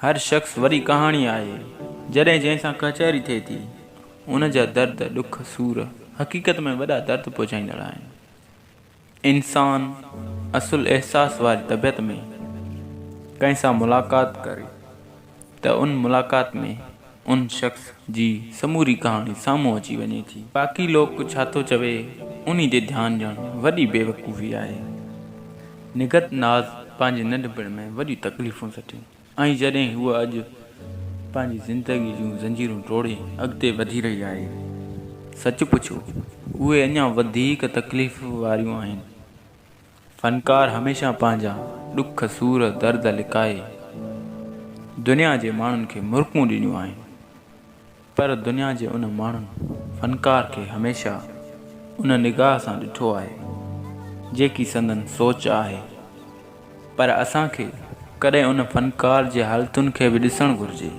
هر شخص وڏي ڪهاڻي آهي، جڏهن جنهن سان ڪچهري ٿئي ٿي، ان جا درد، ڏک، سور حقيقت ۾ وڏا درد پهچائيندڙ آهن. انسان اصل احساس واري طبيعت ۾، ڪنهن سان ملاقات ڪري ته ان ملاقات ۾. ان شخص جي سموري ڪهاڻي سامهون اچي وڃي ٿي. باقي لوڪ ڇا ٿو چوي انهي جي ڌيان ڏيڻ وڏي بيوقوفي آهي. نگهت ناز پنهنجي ننڍپڻ ۾ وڏيون تڪليفون سٺيون ۽ جڏهن هوء اڄ پنهنجي زندگي جون زنجيرون ٽوڙي اڳتي وڌي رهي آهي. سچ پڇو اهي اڃا وڌيڪ تڪليف واريون آهن. فنڪار هميشه پنهنجا ڏک سور درد لڪائي دنيا جي ماڻهن کي مرڪون ڏنيون آهن پر دنيا جي ان ماڻهن فنڪار کي هميشه ان نگاهه سان ڏٺو آهي جيڪي سندن سوچ آهي پر اسان کي ڪڏهن ان فنڪار جي حالتن کي به ڏسڻ گهرجي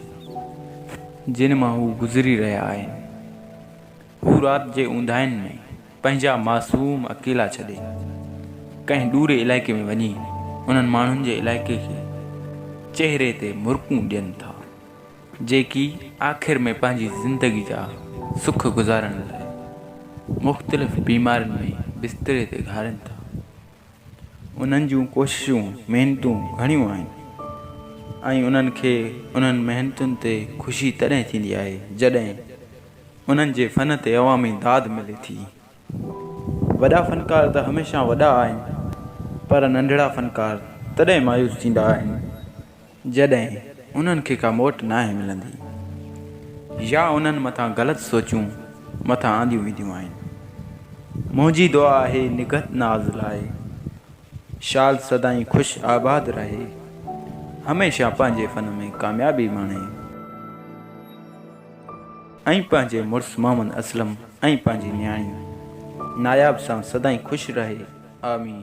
جن مان هو گذري رهيا آهن هو رات جي اونداهين ۾ پنهنجا معصوم اڪيلا ڇڏي ڪنهن ڏوري علائقي ۾ وڃي انهن ماڻهن جي علائقي کي چهري تي مرڪون ڏين ٿا جيڪي آخر ۾ پنهنجي زندگي جا سک گذارڻ لاء مختلف بيمارين ۾ بستري تي گهارين ٿا انهن جون ڪوششون محنتون گهڻيون آهن ۽ انهن کي انهن محنتن تي خوشي تڏهن ٿيندي آهي جڏهن انهن جي فن تي عوامي داد ملي ٿي. وڏا فنڪار ته هميشه وڏا آهن پر ننڍڙا فنڪار تڏهن مايوس ٿيندا آهن جڏهن انهن کي ڪا موٽ ناهي ملندي يا انهن مٿان غلط سوچون مٿان آنديون وينديون آهن. منهنجي دعا آهي نگهت ناز لاء شال سدائين خوش آباد رهي هميشه پنهنجي فن ۾ ڪاميابي ماڻي. ۽ پنهنجي مڙس محمد اسلم ۽ پنهنجي نياڻي ناياب سان سدائين خوش رهي آمين.